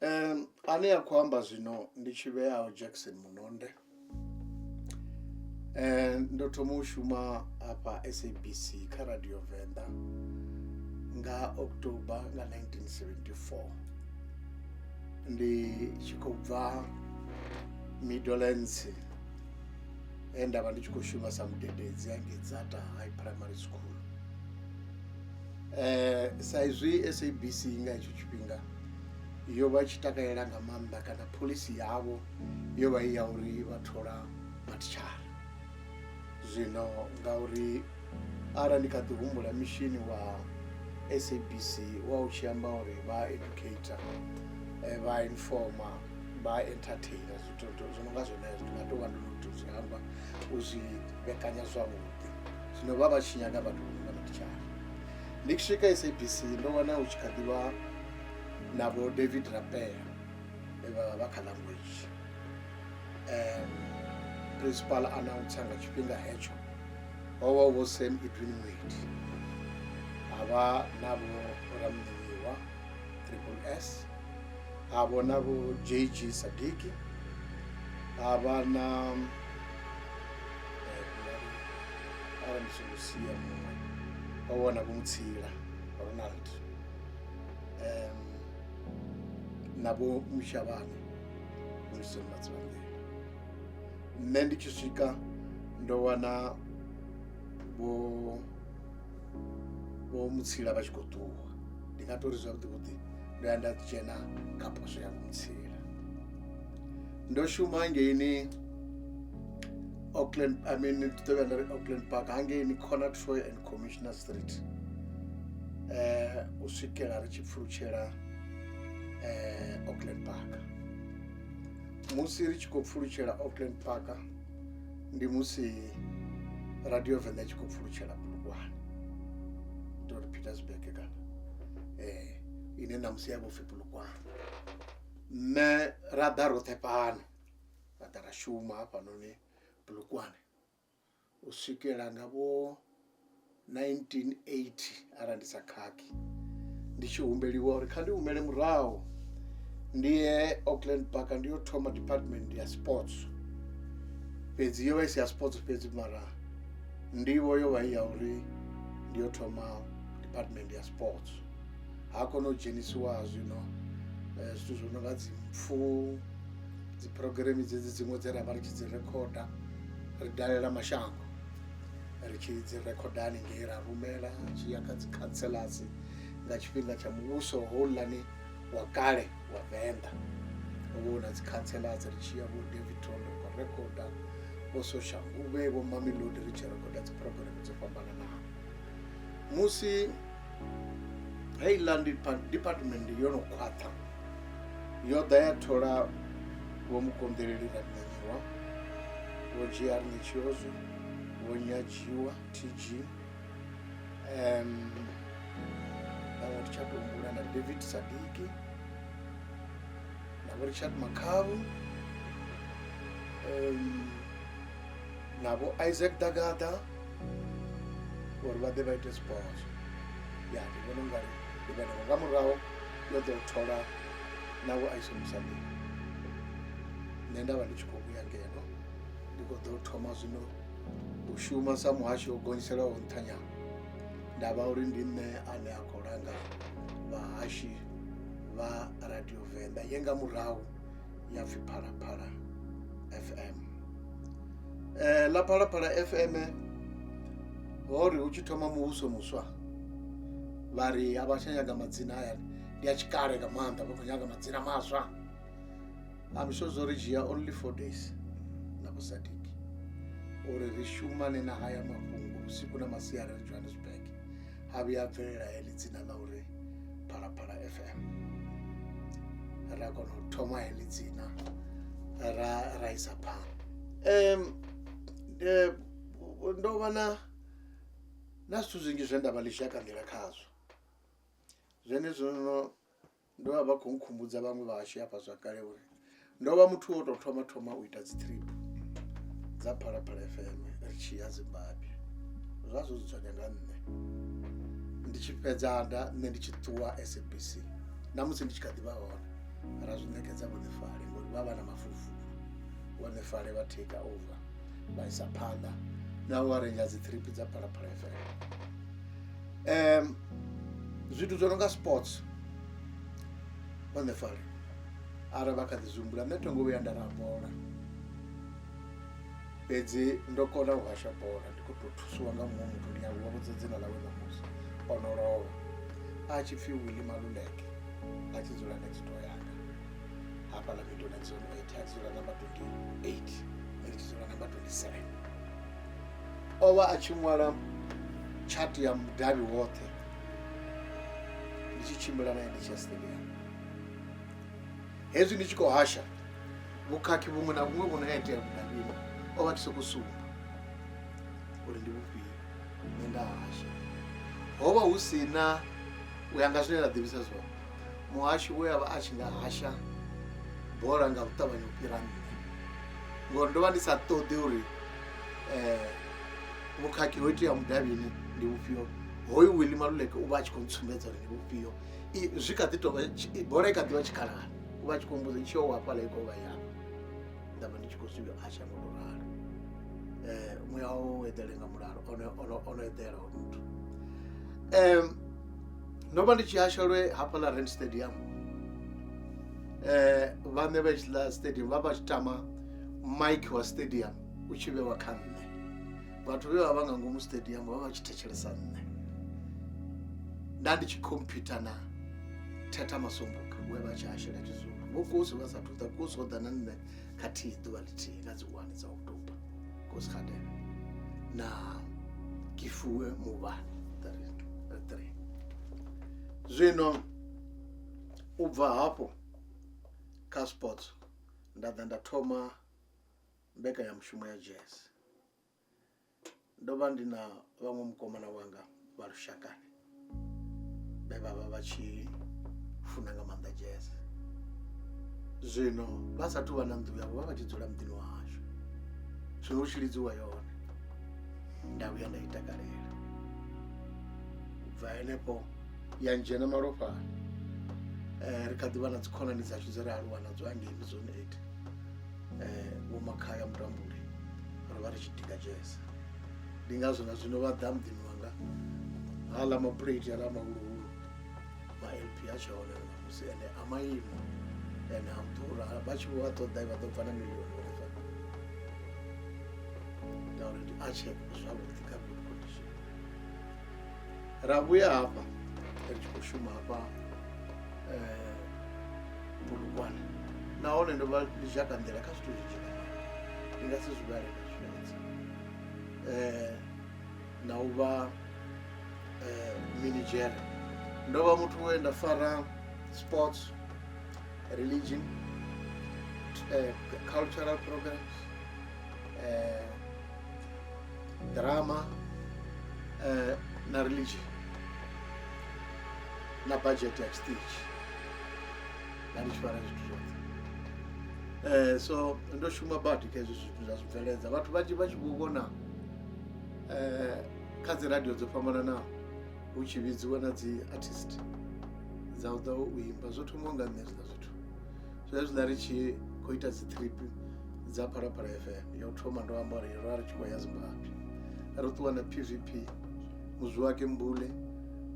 um ane a khou amba zwino ndi tshi vheaho jackson munonde um ndo thoma u shuma hafha sabc kha radio venḓa nga october nga 1974 ndi tshi khou bva middlelands e nda vha ndi tshi khou shuma sa mudededzi hangei dzata high primary school um sa izwi sabc nga hetsho tshifhinga yo vha tshi takalela nga maanḓa kana pholisi yavho yo vha i ya uri vha thola matshara zwino ngauri arali ndi kha ḓi humbula mishini wa sabc wa u tshi amba uri vha educator eh, vha informa vha entertainer zwi no nga zwenezwo ndi nga tou vha ndo no to zwi amba u zwi vhekanya zwavhuḓi zwino vha vha tshi nyaga vhathu vho no nga matshara ndi tshi swika sabc ndo wana hu tshi kha ḓivha na vho david rapea e vha vha vha kha language um principal announcer nga tshifhinga hetsho ho vha vho sam edwin wade ha vha na vho ramnimiwa triple s ha vho na vho jg sadiki ha vha na eh, arali ndi songo sia muṅwe wa vhona vho mutsila ronald um na vho mushavhane wilson matsivandela nṋe ndi tshi swika ndo wana vho vho mutsila vha tshi khou ṱuwa ndi nga tori zwavhuḓi vhuḓi ndo ya nda dzhena kha poswo ya mutsila ndo shuma ngeini auckland i mean ndi ḓo vhuya nda ri auckland park hangeini corner troy and commissioner street um u swikela ri tshi pfulutshela um auckland park musi ri tshi khou pfulutshela auckland park ndi musi radio venḓa i tshi khou pfulutshela bulugwane tori petersburg kana eh ine ṋamusi ya vhopfi bulugwane nṋe ra ḓa roṱhe fhano ra ḓa ra shuma hafhanoni bulugwane u swikela nga vho 1980 arali ndi sa khakhi ndi tshi humbeliwa uri kha ndi humele murahu ndi ye auckland park ndi yo thoma department ya sports fhedzi yo vha i si ya sports fhedzi mara ndivho yo vha i ya uri ndi yo thoma department ya sports ha kona u dzhenisiwa zwino eh, zwithu zwo no nga dzimpfu dziphurogiremi dzedzi dziṅwe dze ra vha ri tshi dzi rekhoda ri dalela mashango ri tshi dzi rekhoda haningei ra rumela zwi ya kha dzikhanselasi nga tshifhinga tsha muvhuso houḽani wa kale wa venḓa ho vha hu na dzikhanselasi ri tshi ya vho davidton ri khou rekhoda vho soshanguvhe vho mamelodi ri tshi rekhoda dziphurogireme dzo fhambananaho musi hei land department yo no khwaṱha yo ḓa ya thola vho mukonḓeleli na nyanyiwa vho gr nitshiozo vho nyadziwa tg um vhaṅwe ri tsha tombula na david sadiki na vho richard makhavu um Nabo Isaac da Gata uri vha ḓe vha ite zwipozwo ya ndi vhona ungari ndi vhenevho nga murahu yo ḓo thola navho a ishumisa mini nṋe nda vha ndi tshi khou vhuya ngeno ndi khou ḓo thoma zwino u shuma sa muhasho wo gonyiselaho nṱhanyana nda vha uri ndi nṋe ane a khou langa vhahashi vha radio venḓa ye nga murahu ya pfi phalaphala fm eh, ḽa phalaphala fm ho ri hu tshi thoma muvhuso muswa vha ri a vha tsha nyaga madzina hayani ndi a tshikale nga maanḓa vha khou nyaga madzina maswa am sure zwo ri dzhia only four days na vhusadiki uri ri shumane na haya mafhungo vhusiku na masiari ri johannesburg ha vhuya a bvelela heḽi dzina ḽa uri phalaphala fm ra kona u thoma heḽi dzina ra ra isa phanḓa um ndo vha na na zwithu zwinzhi zwe nda vha ḽi zwi a kangela khazwo zwenezwo no Ndo vha vha khou nkhumbudza vhaṅwe vhahashu hafha zwa kale uri ndo vha muthu wo tou thoma thoma u ita dzi trip dza phalaphala fm ri tshi ya zimbabwe zwa zwo dzudzanya nga nṋe ndi tshi fhedza nda nṋe ndi tshi ṱuwa sabc na musi ndi tshi kha ḓivha hone ra zwi ṋekedza vhuḓifale ngori vha vha na mafulufulu vhuḓifale vha take over vha isa phanḓa na u arenja dzi trip dza phalaphala fm um, zwithu zwo no nga sports on the fari ara vha kha ḓi zumbula nṋe thongo vhuya nda ra bola fhedzi ndo kona u hasha bola ndi khou tou thusiwa nga muṅwe muthu ndi avhuwa vhudza dzina ḽawe ḽa musi o no lovha a tshi pfhi willi maluleke a tshi dzula next door yanga hafha ḽa middle next door eight a tshi dzula number twenty eight ndi tshi dzula number twenty seven o vha a tshi ṅwala tshati ya mudavhi woṱhe ndi tshi tshimbila na ene chestelia hezwi ndi tshi khou hasha vhukhakhi vhuṅwe na vhuṅwe vhu no itea mudavhini o vha tshi sokou sumba uri ndi vhufhio nṋe nda hasha ho vha hu si na u ya nga zwine nda ḓivhisa zwone muhashi we avha a tshi nga hasha bola nga u ṱavhanya u fhira nṋe ngori ndo vha ndi sa ṱoḓi uri um vhukhakhi ho itea mudavhini ndi vhufhio hoyu willi maluleke u vha a tshi khou ntsumbedza uri ndi vhufhio zwi kha ḓi tovha bola i kha ḓivha tshikhalani u vha a tshi khou mbudzo tshio wa fhala i kovha ya nda vha ndi tshi khou zwi hasha nga u ralo um muya wawo u eḓele nga mulalo ono eḓela ho muthu um ndo vha ndi tshi hashelwe hafha ḽa rand stadium eh vhaṋe vha tshiḽa stadium vha vha tshi tama mike wa stadium u tshi vhewa kha nṋe vhathu vhe vha vha nga ngomu stadium vha vha tshi thetshelesa nṋe nda ndi tshi computer na thetha masombuka we vha tshi hasheletshizulo vho kosi vha sathu ḓa kosi o ḓa na nṋe khathihi ḓuvha ḽithihi nga dzi wani dza oktoba kosgadela na kifuwe muvhani three zwino u bva hafho kha sports nda ḓa nda thoma mbekanyamushumo ya jazz ndo vha ndi na vhaṅwe mukomana wanga vha lushakani vhe vha vha vha tshi funa nga maanḓa jazz zwino vha sathu vha na nnḓu yavho vha vha tshi dzula muḓini wa hashu zwino u tshi lidziwa yone nda vhuya nda i takalela u bva henefho ya ndzhena malofhani um ri kha ḓi vha na dzikhonani dzashu dze ra aluwa nadzo hangei mizone eight eh, vho makhaya mutambule ro vha ri tshi tika jazz ndi ngazwo na zwino vha ḓa muḓini wanga hala mapuleti hala mahuluhulu ma-lp a tshi hone namusi ende a maimo ende a ḓura vha tshi vho a ṱoḓa vha ḓo bva na milioni vhafa ngauri ndi a tshe zwavhuḓi kha good condition ra vhuya hafha ri tshi khou shuma hafha bulukwane eh, nahone ndo vha ndi tshi akanḓela kha zwithu zwinzhi nga ndi nga si zwi vhale nga zwifanedzi um eh, na u vha eh, minigere ndo vha muthu we nda fara sports religion uh, cultural programs uh, drama eh, na religion na budget ya stage na ndi tshi fara zwithu zwoṱhe Eh, so ndo shuma badi kha hezwi zwithu zwa zwibveledza vhathu vhanzhi vha tshi vho vhona eh, kha dzi radio dzo fhambananaho hu tshi vhidziwa na dzi artist dza u ḓa u imba zwo thoma nga nṋe zwiḽa zwithu zwezwiḽa ri tshi khou ita dzi trip dza phalaphala fm ya u thoma ndo amba uri ro vha ri tshi khou ya zimbabwe ro ṱuwa na pvp muzwi wake mbule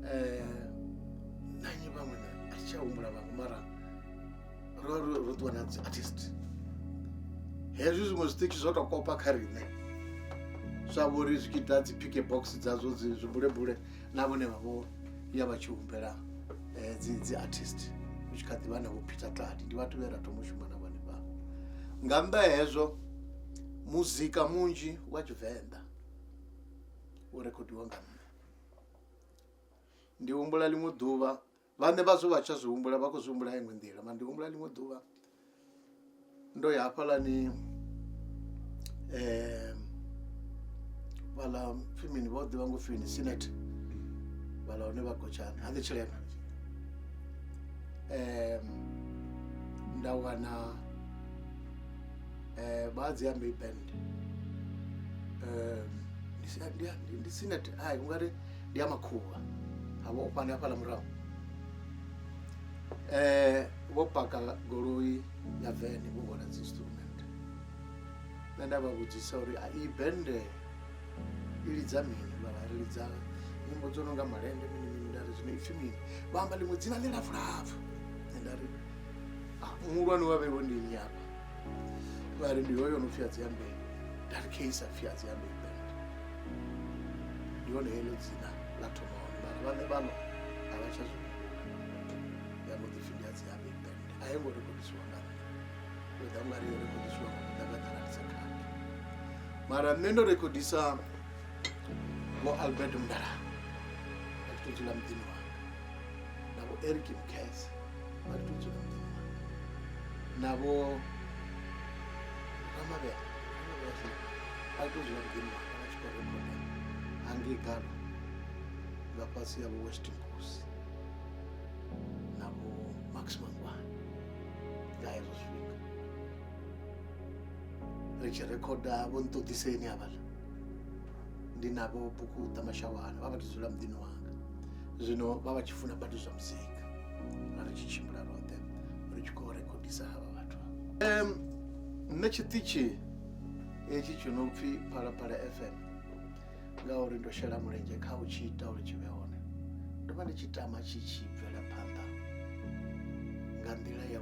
um na nyi vhaṅwe na a si tsha humbula vhaṅwe mara ro vha ro- ro ṱuwa na dzi artist hezwi zwiṅwe zwiṱitshi zwo tou kopa kha riṋe zwa vhori zwi tshi ḓa dzi pike box dzadzo dzi zwibulebule na vhone vha vho ya vha tshi humbela eh, dzi dzi artist u tshi kha ḓi vha na vho peter tladi ndi vhathu vhe ra thoma u shuma na vhone vha nga nnḓa ha hezwo muzika munzhi wa tshivenḓa u rekhodiwa nga nṋe ndi humbula ḽiṅwe ḓuvha vhane vha zwo vha tsha zwi humbula vha khou zwi humbula iṅwe nḓila ma ndi humbula ḽiṅwe ḓuvha ndo ya hafhalani um vhala fimini vho ḓivha ngo fini sinet vhala hone vha gotshana ha ḓi tshilema um nda wana um vha dzi ambi band um ndi sinet ai ungari ndi ya makhuvha ha vha ofhani hafhaḽa murahu um vho paka goloi ya vene vho hwala dzi instrument nṋe nda vha vhudzisa uri a iyi bende i lidza mini vhavha ri lidza nyimbo dzo no nga malende mini mini nda ri zwino ipfhi mini vha amba ḽiṅwe dzina ḽi lapfulapfu nṋe nda ri ah, muhulwane wa vheiwe ndi nnyi afha vha ri ndi hoyo no pfhi adziambei nda ri kheisa pfhi adziambei ndi hone heḽo dzina ḽa thoma hone mara vhaṋe vhano a vha tsha zwi ya no ḓipfi ndi a dzi a big band a yo ngo rekodisiwa nga nṋe yo ḓa ungari yo rekodisiwa nga muḓagaḓara ndi sa khadi mara nṋe ndo rekodisa vho albert mdala a tshi to dzula muḓini wanga na vho eric mkhese a tshi to dzula muḓini wanga na vho ramavhela a tou zwi nga ḓi ṋa a tshi khou rekhoda Anglican nga fhasi ya vho Weston Nkosi na vho Max Mangwana nga hezwo zwifhinga ri tshi rekhoda vho nṱoḓiseni havhala ndi navho buku ṱa mashawana vha vha tou dzula muḓini wanga zwino vha vha tshi funa badi zwa muzika na ri tshi tshimbila roṱhe ri tshi khou rekhodisa havha vhathu nṋe tshiṱitshi hetshi tshi no pfhi phalaphala fm ngauri ndo shela mulenzhe kha u tshi ita uri tshi vhe hone ndo vha ndi tshi tama tshi tshi bvela phanḓa nga nḓila ya